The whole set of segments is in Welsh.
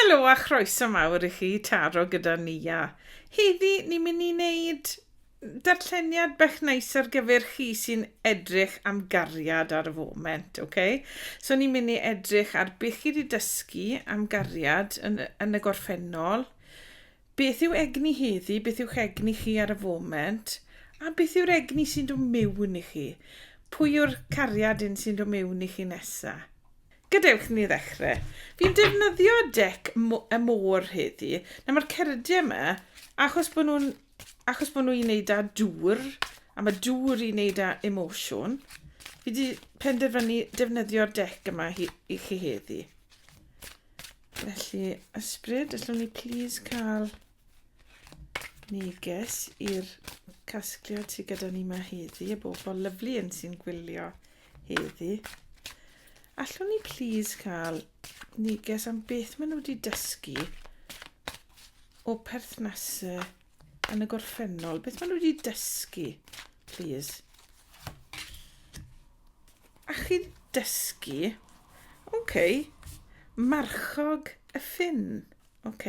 Helo a chroeso mawr i chi taro gyda Nia. Heddi ni'n mynd i wneud darlleniad bach neis ar gyfer chi sy'n edrych am gariad ar y foment, ok? So ni'n mynd i edrych ar beth chi wedi dysgu am gariad yn, yn y gorffennol, beth yw egni heddi, beth yw'ch egni chi ar y foment, a beth yw'r egni sy'n dod mewn i chi? Pwy yw'r cariad un sy'n dod mewn i chi nesa? Gadewch ni ddechrau. Fi'n defnyddio dec y môr heddi. Nawr mae'r cerdie yma, achos bod nhw'n achos bod nhw i wneud â dŵr, a mae dŵr i wneud â emosiwn, fi wedi penderfynu defnyddio'r dec yma hi, i chi heddi. Felly, ysbryd, allwn ni please cael... Neges i'r casgliad sydd gyda ni yma heddi, y bobl lyflu yn sy'n gwylio heddi. Allwn ni please cael neges am beth maen nhw wedi dysgu o perthnasau yn y gorffennol? Beth maen nhw wedi dysgu, please? A chi dysgu, oce, okay, marchog y ffin. Ok.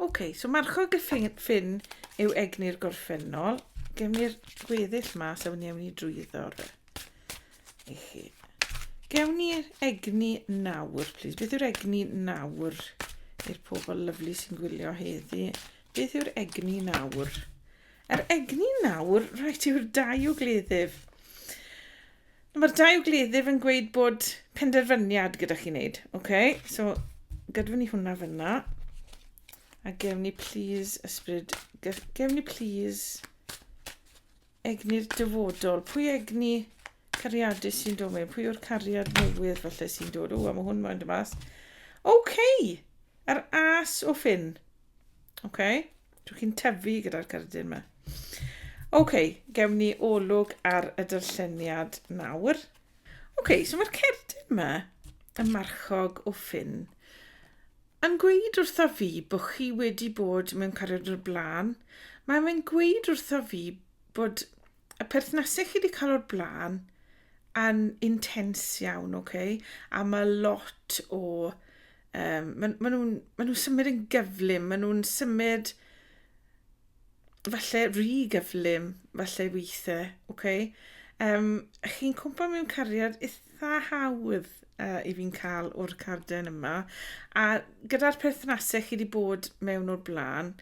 Ok, so marchog y ffin yw egni'r gorffennol. Gem ni'r gweddill ma, so ni ewn ni drwyddo fe. I chi. Gewn ni'r egni nawr, please. Beth yw'r egni nawr i'r pobl lyflu sy'n gwylio heddi? Beth yw'r egni nawr? Yr egni nawr, rhaid yw'r dau o gleddyf. Mae'r dau o gleddyf yn gweud bod penderfyniad gyda chi wneud. OK, so gydfyn ni hwnna fyna. A gewn ni please ysbryd... Gewn ni please egni'r dyfodol. Pwy egni cariadus sy'n dod mewn? Pwy o'r cariad newydd falle sy'n dod? O, a mae hwn mae'n dymas. OK, yr as o ffyn. OK, Dwi chi'n tyfu gyda'r cerdyn yma. Oce, okay, gewn ni olwg ar y dyrlleniad nawr. Oce, okay, so mae'r cerdyn yma, y marchog o ffyn, yn gweud wrtho fi bod chi wedi bod mewn cariad o'r blaen. Mae'n gweud wrtho fi bod y perthnasau chi wedi cael o'r blaen yn intens iawn, oce? Okay? A mae lot o... Um, maen ma nhw'n ma nhw symud yn gyflym, maen nhw'n symud falle rhy gyflym, falle weithiau, oce? Okay? Um, chi'n cwmpa mewn cariad eitha hawdd uh, i fi'n cael o'r carden yma. A gyda'r perthnasau chi wedi bod mewn o'r blaen,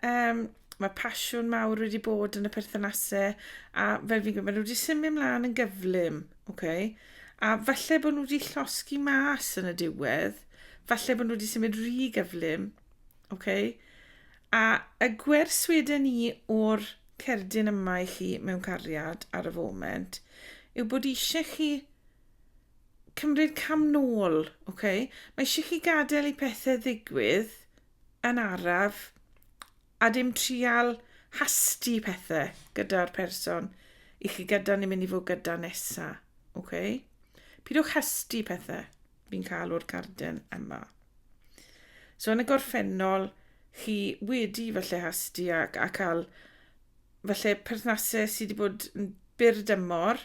um, mae pasiwn mawr wedi bod yn y perthynasau a fel fi'n gwybod, maen nhw wedi symud mlaen yn gyflym, okay? a falle bod nhw wedi llosgi mas yn y diwedd, falle bod nhw wedi symud rhy gyflym, okay? a y gwers wedyn ni o'r cerdyn yma i chi mewn cariad ar y foment yw bod eisiau chi cymryd cam nôl, okay? mae eisiau chi gadael i pethau ddigwydd, yn araf a dim trial hasti pethe gyda'r person i chi gyda ni'n mynd i fod gyda nesa. Ok? Pidwch hasti pethe fi'n cael o'r carden yma. So yn y gorffennol, chi wedi falle hasti ac a cael falle perthnasau sydd wedi bod yn byr dymor,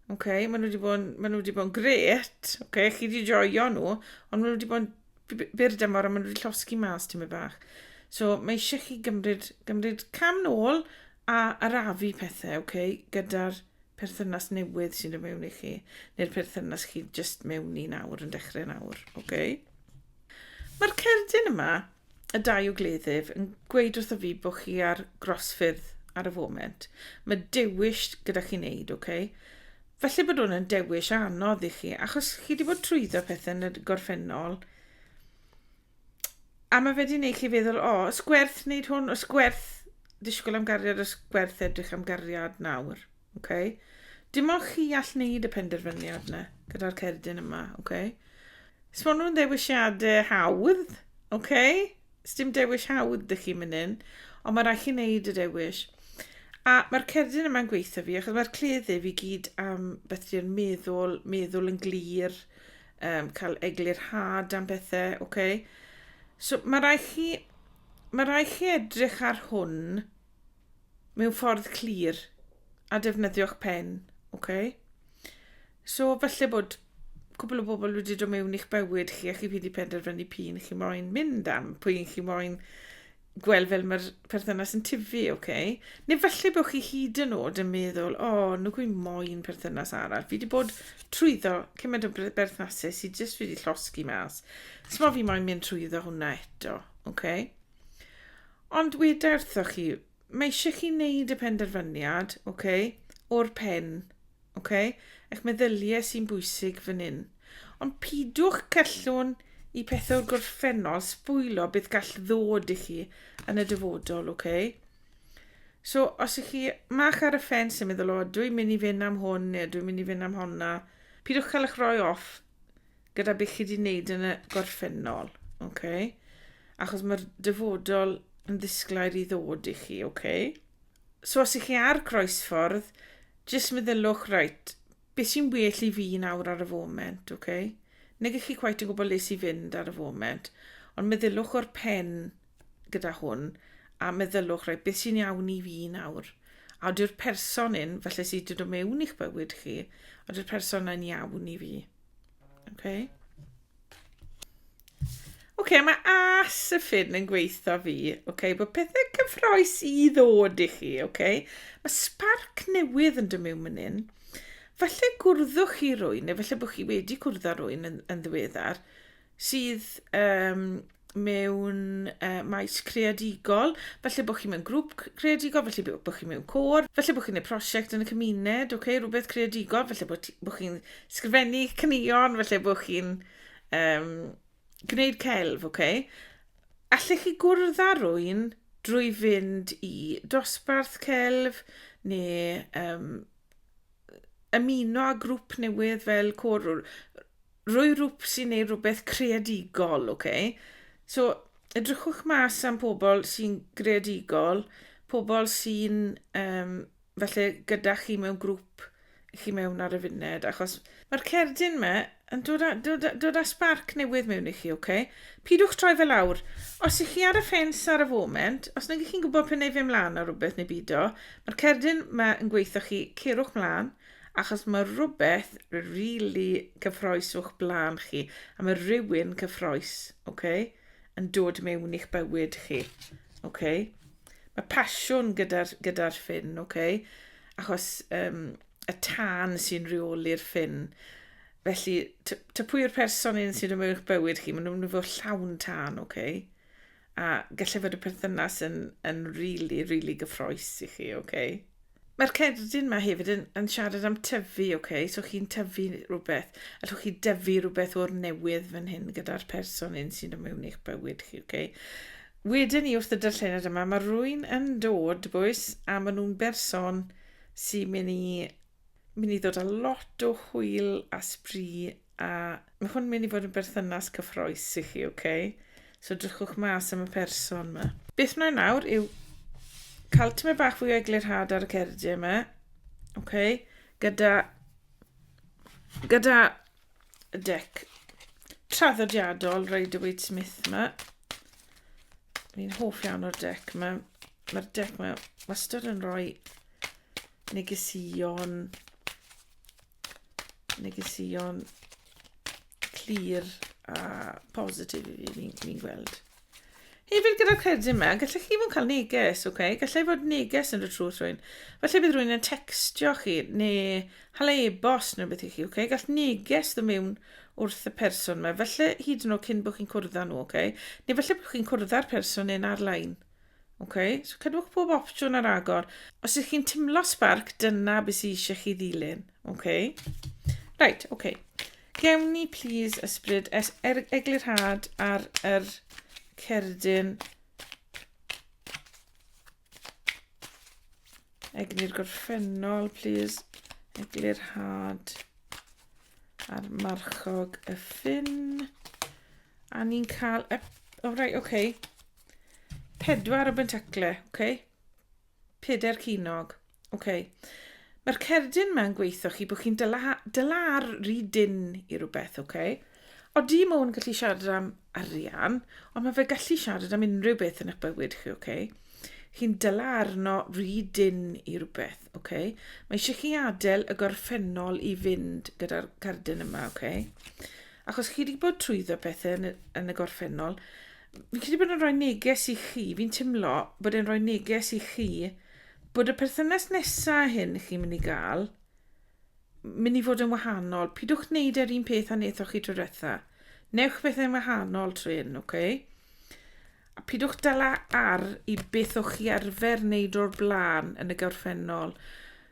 Oce, okay, maen nhw wedi bod yn, maen nhw wedi bod yn gret. Oce, okay, chi wedi joio nhw, ond maen nhw wedi bod yn byr dymor a maen nhw wedi llosgi mas ti'n mynd bach. So mae eisiau chi gymryd, gymryd cam nôl a arafu pethau, oce, okay, gyda'r perthynas newydd sy'n dod mewn i chi, neu'r perthynas chi jyst mewn i nawr, yn dechrau nawr, oce? Okay? Mae'r cerdyn yma y dau o gleddyf yn gweud wrtho fi bod chi ar grosffyrdd ar y foment. Mae dewis gyda chi'n neud, oce? Okay? Felly bod hwn yn dewis anodd i chi, achos chi wedi bod trwyddo pethau yn y gorffennol. A mae fe wedi gwneud chi feddwl, o, ysgwerth wneud hwn, ysgwerth disgwyl am gariad, ysgwerth edrych am gariad nawr. ok? Dim ond chi all wneud y penderfyniad yna, gyda'r cerdyn yma, ok? Os maen nhw'n ddewisiadau hawdd, ok? Os dim dewis hawdd dych chi'n mynd yn, ond mae rhaid chi wneud y dewis. A mae'r cerdyn yma'n gweithio fi, achos mae'r cleddyf i gyd am beth di'r meddwl, meddwl yn glir, um, cael eglurhad am bethau, ok? So mae rhaid chi, mae rhaid chi edrych ar hwn, mewn ffordd clir a defnyddio'ch pen, ok? So falle bod cwbl o bobl wedi dod mewn i'ch bywyd chi a chi wedi penderfynu p'un chi moyn mynd am, p'un chi moyn gweld fel mae'r perthynas yn tifu, ok? Neu falle bod chi hyd yn oed yn meddwl, o, oh, nhw gwi moyn perthynas arall. Fi wedi bod trwyddo cymaint o berthnasau sydd jyst wedi llosgi mas. Smo fi moyn mynd trwyddo hwnna eto, ok? Ond weda wrthoch chi, mae eisiau chi wneud y penderfyniad, oce, okay, o'r pen, oce, okay, eich meddyliau sy'n bwysig fan hyn. Ond pidwch cellwn i pethau'r gorffennol sbwylio beth gall ddod i chi yn y dyfodol, oce. Okay? So, os ych chi mach ar y ffens yn meddwl, o, dwi'n mynd i fynd am hwn neu dwi'n mynd i fynd am honna, pidwch cael eich rhoi off gyda beth chi 'di wneud yn y gorffennol, oce? Achos mae'r dyfodol yn ddisglair i ddod i chi, oce? So os ych chi ar groesffordd, jyst meddyliwch, reit, beth sy'n well i fi nawr ar y foment, oce? Nag ych chi cweit yn gwybod le sy'n fynd ar y foment, ond meddyliwch o'r pen gyda hwn, a meddyliwch, reit, beth sy'n iawn i fi nawr? A yw'r person un, felly sydd wedi dod mewn i'ch bywyd chi, a yw'r person yna'n iawn i fi? Okay. OK, mae as y ffyn yn gweithio fi. OK, bod pethau cyffroes i ddod i chi. OK, mae sparc newydd yn dymu mynd yn. Falle gwrddwch chi rwy'n, neu falle bod chi wedi cwrdd â rwy'n yn, yn ddiweddar, sydd um, mewn uh, maes creadigol, falle bod chi mewn grŵp creadigol, falle bod chi mewn cwr, falle bod chi'n gwneud prosiect yn y cymuned, okay, rhywbeth creadigol, falle bod, bod chi'n sgrifennu cynnion, falle bod chi'n um, gwneud celf, okay. Allech chi gwrdd â rwy'n drwy fynd i dosbarth celf neu um, ymuno â grŵp newydd fel cwr Rhoi rwpsi neu rhywbeth creadigol, ok? So, edrychwch mas am pobl sy'n greadigol, pobl sy'n um, falle gyda chi mewn grŵp i chi mewn ar y funed, achos mae'r cerdyn yma yn dod â, dod, dod â sbarc newydd mewn i chi, ok? Pidwch troi fel awr. Os ych chi ar y ffens ar y foment, os nag ych chi'n gwybod pen ei fe mlaen ar rhywbeth neu byd o, mae'r cerdyn yma yn gweithio chi, cerwch mlaen, Achos mae rhywbeth rili cyffroes o'ch blaen chi, a mae rhywun cyffroes, ok, yn dod mewn i'ch bywyd chi, ok. Mae pasiwn gyda'r gyda ffyn, ok, achos um, y tân sy'n rheoli'r ffyn. Felly, ta pwy yw'r person un sy'n rhywun eich bywyd chi, maen nhw'n mynd fod llawn tân, ok. A gallai fod y perthynas yn, yn really, really gyffroes i chi, oce? Okay? Mae'r cerdyn yma hefyd yn, yn siarad am tyfu, oce? Okay? So chi'n tyfu rhywbeth, allwch chi dyfu rhywbeth o'r newydd fan hyn gyda'r person hyn sy'n dod mewn i'ch bywyd chi, oce? Okay? Wedyn ni wrth y darllenad yma, mae rwy'n yn dod, boes, a maen nhw'n berson sy'n mynd i Mynd i ddod â lot o hwyl a sbri a mae hwn mynd i fod yn berthynas cyffroes i chi, oce? Okay? So drychwch mas am y person yma. Beth wna i nawr yw cael tymed bach fwy o eglurhad ar y cerdiau yma, oce? Okay? Gyda, gyda deck traddodiadol Rider-Waite Smith yma. Fi'n hoff iawn o'r deck yma. Mae'r deck yma wastad yn rhoi negesion negesion clir a positif i fi, fi'n fi gweld. Hefyd gyda'r cerdyn yma, gallech chi fod yn cael neges, oce? Okay? Gallai fod neges yn y trwth rhywun. Felly bydd rhywun yn textio chi, neu hala e-bos neu beth i chi, oce? Okay? Gall neges ddim mewn wrth y person yma, felly hyd yn oed cyn bod chi'n cwrdd â nhw, oce? Okay? Neu felly bod chi'n cwrdd â'r person neu'n ar-lein. Oce? Okay? So cadwch pob opsiwn ar agor. Os ydych chi'n timlo sbarc, dyna beth sydd eisiau chi ddilyn, oce? Okay? Right, oce. Okay. Gewn ni plîs ysbryd es er eglurhad ar yr cerdyn egni'r gorffennol plîs eglurhad ar marchog y ffin a ni'n cael y... O, rai, oce. Okay. Pedwar o bentacle, oce. Okay. Pedair cinog. Ok. Mae'r cerdyn ma'n gweithio chi bod chi'n dyla, dyla ar rhy dyn i rhywbeth, ok? O di mwyn gallu siarad am arian, ond mae fe gallu siarad am unrhyw beth yn eich bywyd chi, ok? Chi'n dyla arno rhy dyn i rhywbeth, ok? Mae eisiau chi adael y gorffennol i fynd gyda'r cerdyn yma, ok? Achos chi wedi bod trwyddo pethau yn y, yn y gorffennol, Fi'n credu bod yn rhoi neges i chi, fi'n timlo bod e'n rhoi neges i chi bod y perthynas nesa hyn chi'n mynd i gael mynd i fod yn wahanol. Pidwch wneud yr un peth a nethoch chi tro diwetha. Newch bethau'n wahanol trwy hyn, oce? Okay? A pidwch dala ar i beth o'ch chi arfer wneud o'r blaen yn y gorffennol.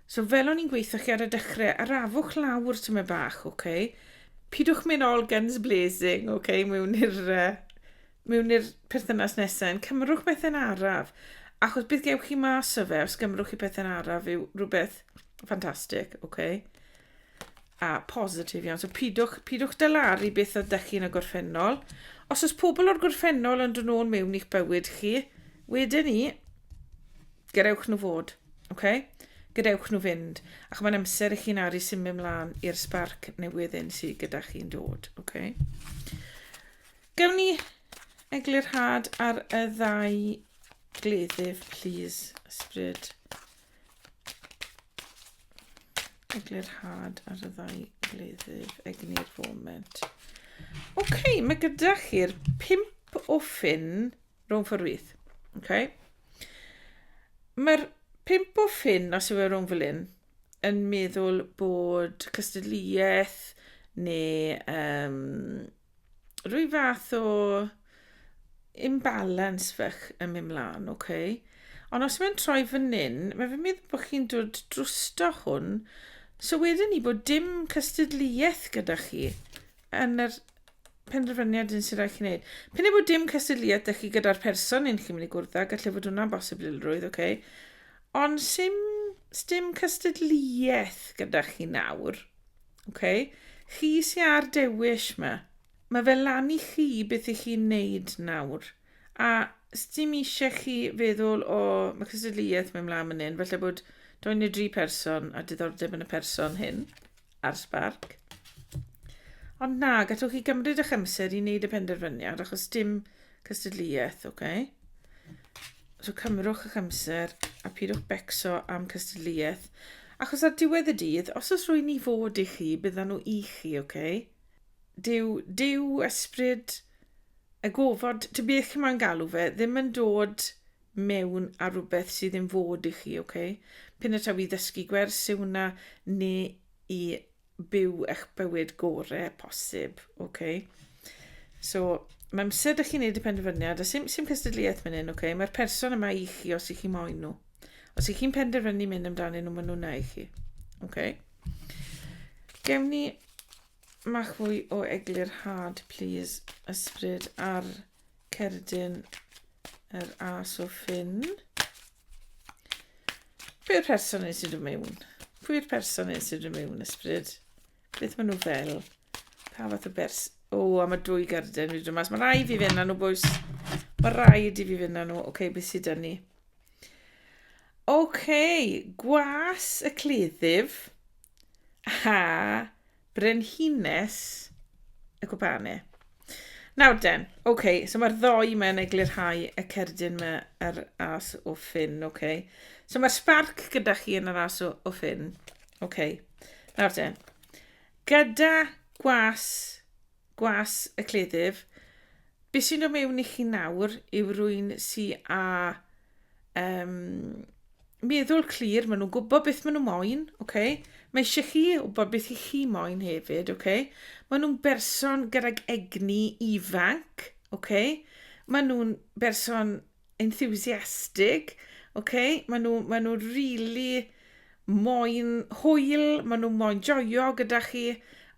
So fel o'n i'n gweitho chi ar y dechrau, arafwch lawr tyma bach, oce? Okay? Pidwch mynd all guns blazing, oce, okay? mewn i'r uh, mewn i'r perthynas nesaf, yn cymrwch bethau'n araf. Achos bydd gewch chi mas o fe os gymrwch chi bethau'n araf yw rhywbeth ffantastig, oce? Okay? A positif iawn. So pidwch, pidwch dalaru beth oedd da chi yn y gorffennol. Os oes pobl o'r gorffennol yn dod nôl mewn i'ch bywyd chi, wedyn ni, Gadewch nhw fod, oce? Okay? Gadewch nhw fynd. Ac mae'n amser i chi'n aru symud mlaen i'r sbarc newydd un sydd gyda chi'n dod, oce? Okay? Gawn ni eglurhad ar y ddau gleddyf, please, ysbryd. Eglurhad ar y ddau gleddyf, egni'r foment. Oce, okay, mae gyda chi'r pimp o ffyn rhwng ffordd wyth. Okay. Mae'r pimp o ffin, os yw e rhwng fel un, yn meddwl bod cystadleuaeth neu um, rwy fath o imbalance fach yn mynd mlaen, oce? Okay? Ond os mae'n troi fan hyn, mae fe'n meddwl bod chi'n dod drwsto hwn, so wedyn ni bod dim cystadleuaeth gyda chi. yn yr penderfyniad un sy'n rhaid chi wneud. Pyn ei bod dim cysylltiad â chi gyda'r person un chi'n mynd i gwrdd â, gallai fod hwnna'n bosibilrwydd, oce. Okay. Ond sy'n dim cystadleuaeth gyda chi nawr, oce. Okay. Chi sy'n ar dewis yma. Mae fel lan i chi beth i chi'n neud nawr. A dim eisiau chi feddwl o mae cystadleuaeth mewn mlaen mynd hyn, felly bod dwy neu dri person a diddordeb yn y person hyn. ar Spark. Ond na, gallwch chi gymryd eich amser i wneud y penderfyniad, achos dim cystadleuaeth, oce? Okay? So cymrwch eich amser a pidwch becso am cystadleuaeth. Achos ar diwedd y dydd, os oes rwy'n i fod i chi, byddan nhw i chi, oce? Okay? Dyw, dyw ysbryd y gofod, ty beth chi'n moyn galw fe, ddim yn dod mewn ar rhywbeth sydd yn fod i chi, ok? Pyn y taw i ddysgu gwers yw hwnna, neu i byw eich bywyd gore posib, ok? So, mae amser da chi'n neud y penderfyniad, a sy'n sy'n cystadleuaeth fan hyn, ok? Mae'r person yma i chi os i chi moyn nhw. Os i chi'n penderfynu mynd amdanyn nhw, maen nhw'n i chi, ok? Gewn ni mach fwy o eglurhad, please, ysbryd ar... cerdyn yr as o ffyn. Pwy'r person nes i mewn? Pwy'r person nes i mewn, ysbryd? Beth maen nhw fel? Pa fath o bers... O, oh, a mae dwy garden fi dod mas. Mae rhaid fi fynd â nhw, bwys. Mae rhaid i fi fynd â nhw. Oce, okay, beth sydd dyn ni? Oce, okay, gwas y cleddyf a Brenhines y gwpane. Nawr den, oce, okay, so mae'r ddoi mae'n eglurhau y cerdyn mae ar as o ffyn, oce. Okay. So mae'r sparc gyda chi yn yr as o, o ffyn, oce. Okay. Nawr den, gyda gwas Gwas y cleddyf. Be sy'n dod mewn i chi nawr yw rwy'n si a um, meddwl clir, maen nhw'n gwybod beth maen nhw moyn, okay? mae eisiau chi wybod beth i chi moyn hefyd, okay? maen nhw'n berson gydag egni ifanc, okay? maen nhw'n berson enthusiastic, oce, maen nhw, maen nhw really moyn hwyl, maen nhw moyn joio gyda chi,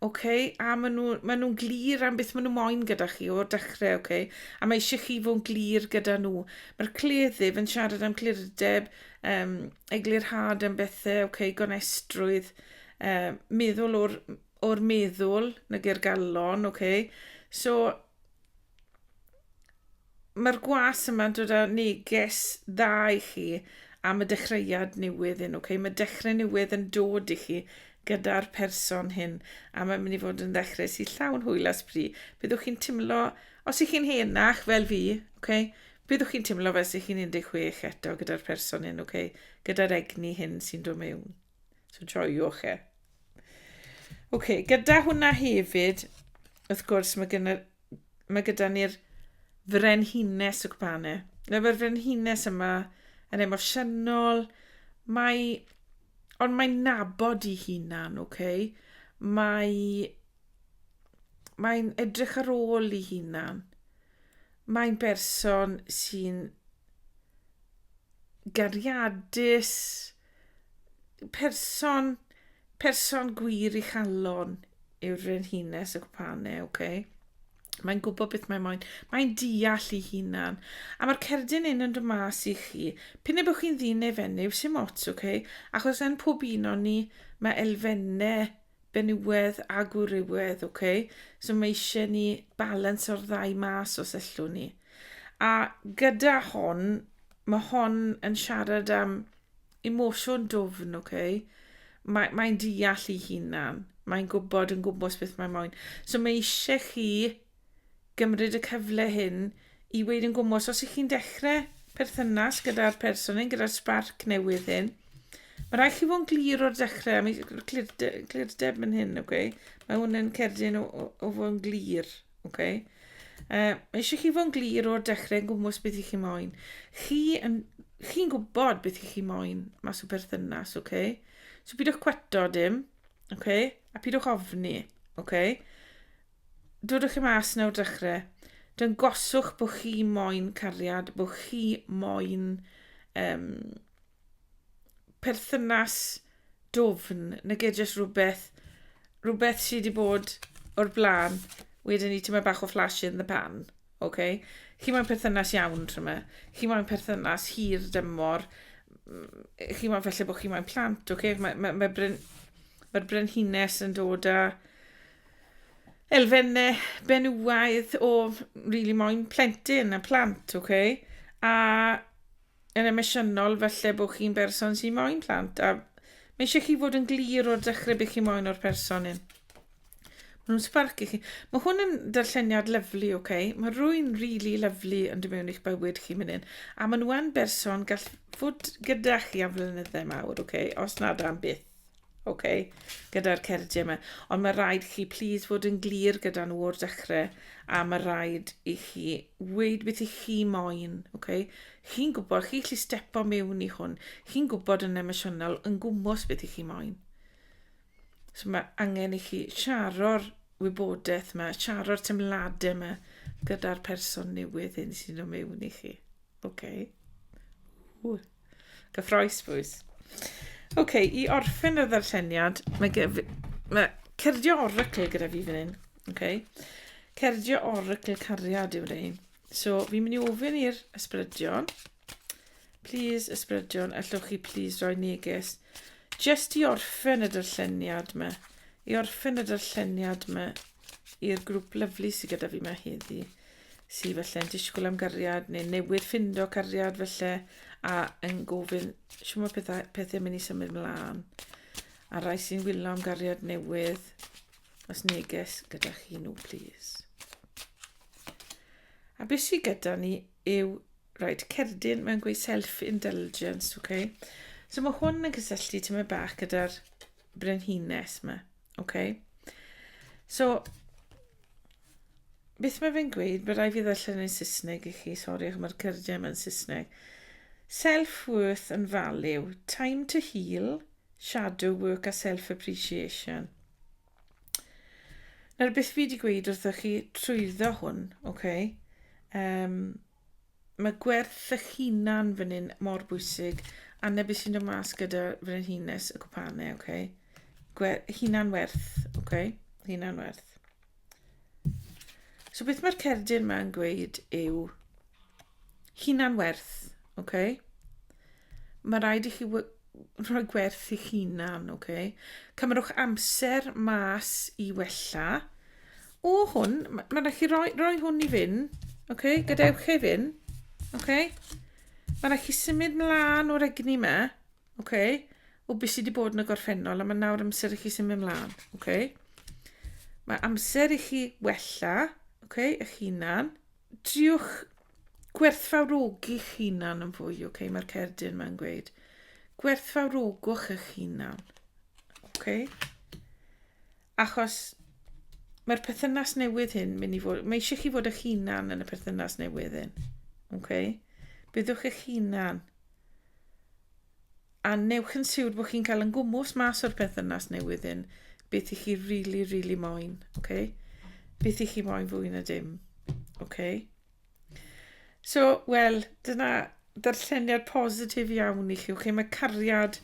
oce, a maen nhw, maen nhw'n glir am beth maen nhw moyn gyda chi o'r dechrau, oce, a mae eisiau chi fod yn glir gyda nhw. Mae'r cleddyf yn siarad am clirdeb, um, eglurhad am bethau, oce, gonestrwydd, um, meddwl o'r, o'r meddwl, nag i'r galon, oce. So, Mae'r gwas yma'n dod â neges dda i chi am y dechreuad newydd hyn, ok? Mae dechrau newydd yn dod i chi gyda'r person hyn, a mae'n mynd i fod yn ddechrau sy'n llawn hwyl a sbri. Byddwch chi'n timlo, os ych chi'n henach fel fi, ok? Byddwch chi'n timlo fel sy'ch chi'n 16 eto gyda'r person hyn, ok? Gyda'r egni hyn sy'n dod mewn. So joiwch e. Oce, okay, gyda hwnna hefyd, wrth gwrs, mae, gyda, mae gyda ni'r frenhines y gwpanau. Mae'r frenhines yma yn emosiynol, mae... Ond mae'n nabod i hunan, oce? Okay? Mae... Mae'n edrych ar ôl i hunan. Mae'n berson sy'n gariadus, person, person gwir i chalon yw'r frenhines y gwpane, oce? Okay? Mae'n gwybod beth mae'n moyn. Mae'n deall ei hunan. A mae'r cerdyn un yn dymas i chi. Pyn y bod chi'n ddyn neu fenyw, sy'n mots, oce? Okay? Achos yn pob un o'n ni, mae elfennau benywedd a gwrywedd, oce? Okay? So mae eisiau ni balans o'r ddau mas os ellwn ni. A gyda hon, mae hon yn siarad am emosiwn dwfn, oce? Okay? Mae, mae'n deall ei hunan. Mae'n gwybod yn gwmwys beth mae moyn. So mae eisiau chi gymryd y cyfle hyn i weid yn gwmwys. Os ych chi'n dechrau perthynas gyda'r person hyn, gyda'r sbarc newydd hyn, mae rhaid chi fod yn glir o'r dechrau. Mae clirdeb yn hyn, oce? Okay? Mae hwn yn cerdyn o, o, o fod yn glir. Ok. Uh, mae eisiau chi fod yn glir o'r dechrau yn gwmwys beth i chi moyn. Chi yn, chi'n gwybod beth i chi moyn mas o berthynas, ok? So pidwch cweto dim, ok? A pidwch ofni, ok? Dodwch chi mas nawr dechrau. Dy'n goswch bod chi moyn cariad, bod chi moyn um, perthynas dwfn nage jyst rhywbeth rhywbeth sydd wedi bod o'r blaen wedyn ni tyma bach o flash in the pan oce chi moyn perthynas iawn tyma chi moyn perthynas hir dymor chi moyn falle bod chi moyn plant oce mae ma, ma bryn mae'r brenhines yn dod â elfennau benywaidd o rili really moyn plentyn a plant, oce? Okay? A yn emosiynol falle bod chi'n berson sy'n moyn plant a mae eisiau chi fod yn glir o'r dechrau beth chi'n moyn o'r person hyn. Mae nhw'n sparc i chi. Mae hwn yn darlleniad lyflu, oce? Okay? Mae rwy'n rili really lyflu yn dod mewn i'ch bywyd chi mynd hyn. A maen nhw yn berson gall fod gyda chi am flynyddau mawr, oce? Okay? Os nad am byth. ok, gyda'r cerdie yma. Ond mae rhaid chi, please, fod yn glir gyda nhw o'r dechrau, a mae rhaid i chi weid beth i chi moyn, ok? Chi'n gwybod, chi'n gallu stepo mewn i hwn, chi'n gwybod yn emosiynol, yn gwmwys beth i chi moyn. So mae angen i chi siaro'r wybodaeth yma, siaro'r temladau yma gyda'r person newydd hyn sy'n dod mewn i chi. Ok? Ww. Gyffroes, bwys. Oce, okay, i orffen y ddarlleniad, mae, gef... mae cerdio oracl gyda fi fan hyn. Oce. Okay. Cerdio oracl cariad yw rei. So, fi'n mynd i ofyn i'r ysbrydion. Please, ysbrydion, allwch chi please roi neges. Just i orffen y darlleniad yma. I orffen y darlleniad yma i'r grŵp lyflu sydd gyda fi yma heddi. sy felle'n disgwyl am gariad neu newydd ffindo cariad felly a yn gofyn siw mae pethau, pethau mynd i symud mlaen. A rai sy'n wylio am gariad newydd, os neges gyda chi nhw, plîs. A beth sydd gyda ni yw, rhaid cerdyn, mae'n gweud self-indulgence, okay? So mae hwn yn cysylltu tyma bach gyda'r brenhines yma, okay? So, Beth mae fe'n gweud? Mae rai fi ddarllen yn Saesneg i chi. Sori, ac mae'r cyrdiau yma'n Saesneg. Self-worth and value. Time to heal, shadow work a self-appreciation. Nawr, beth fi wedi gweud wrthoch chi trwyddo hwn, oce? Okay? Um, Mae gwerth eich hunan fan hyn mor bwysig. Anne, beth sy'n dod mas gyda frenhines y gwpane, oce? Okay? Gwer hunan werth, oce? Okay? Hunan werth. So beth mae'r cerdyn yma yn gweud yw hunan werth, oce? Okay? Mae rhaid i chi rhoi gwerth i'ch hunan, oce? Okay? Cymerwch amser mas i wella. O hwn, mae'n ma rhaid chi roi, roi hwn i fyn, oce? Okay? Gadewch e fyn, oce? Okay? Mae'n rhaid chi symud mlaen o'r egni yma, oce? Okay? O beth sydd wedi bod yn y gorffennol, a mae nawr amser i chi symud mlaen, oce? Okay? Mae amser i chi wella, oce, okay? eich hunan, Triwch gwerthfawrogi'ch hunan yn fwy, ok? Mae'r cerdyn mae'n gweud. Gwerthfawrogwch eich hunan. Ok? Achos mae'r perthynas newydd hyn mynd i fod... Mae eisiau chi fod eich hunan yn y perthynas newydd hyn. Ok? Byddwch eich hunan. a newch yn siwr bod chi'n cael yn gwmws mas o'r perthynas newydd hyn beth i chi rili, really, rili really moyn, oce? Okay? Beth i chi moyn fwy na dim, oce? Okay? So, wel, dyna ddarlleniad positif iawn i chi. Oce, okay? mae cariad,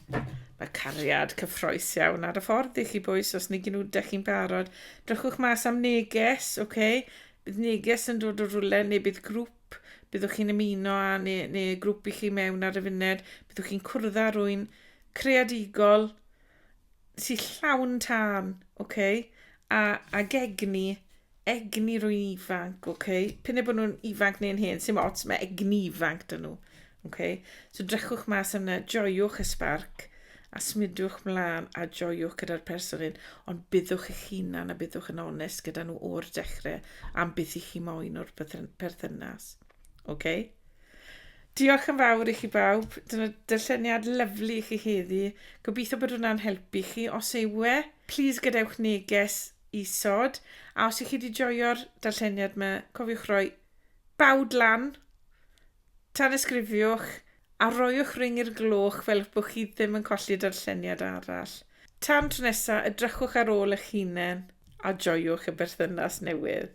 mae cariad cyffroes iawn ar y ffordd i chi bwys os ni gynnu da chi'n barod. Drychwch mas am neges, oce? Okay? Bydd neges yn dod o rwle neu bydd grŵp siop, byddwch chi'n ymuno â neu, neu grŵp i chi mewn ar y funed, byddwch chi'n cwrdd â rwy'n creadigol sy'n llawn tân, oce? Okay? A, a gegni, egni rwy'n ifanc, oce? Okay? Pyn e bod nhw'n ifanc neu'n hen, sy'n ots, mae egni ifanc dyn nhw. Okay? So drechwch mas yna, joiwch y sbarc, a symudwch mlaen a joiwch gyda'r person hyn, ond byddwch eich hunan a byddwch yn onest gyda nhw o'r dechrau am beth i chi moyn o'r perthynas. OK? Diolch yn fawr i chi bawb. Dyna dylleniad lyflu i chi heddi. Gobeithio bod hwnna'n helpu chi. Os yw e, please gadewch neges isod. A os ych chi wedi joio'r darlleniad yma, cofiwch roi bawd lan Tanysgrifiwch a rhoiwch ring i'r gloch fel eich bod chi ddim yn colli darlleniad arall. Tan tro nesaf, edrychwch ar ôl eich hunain a joiwch y berthynas newydd.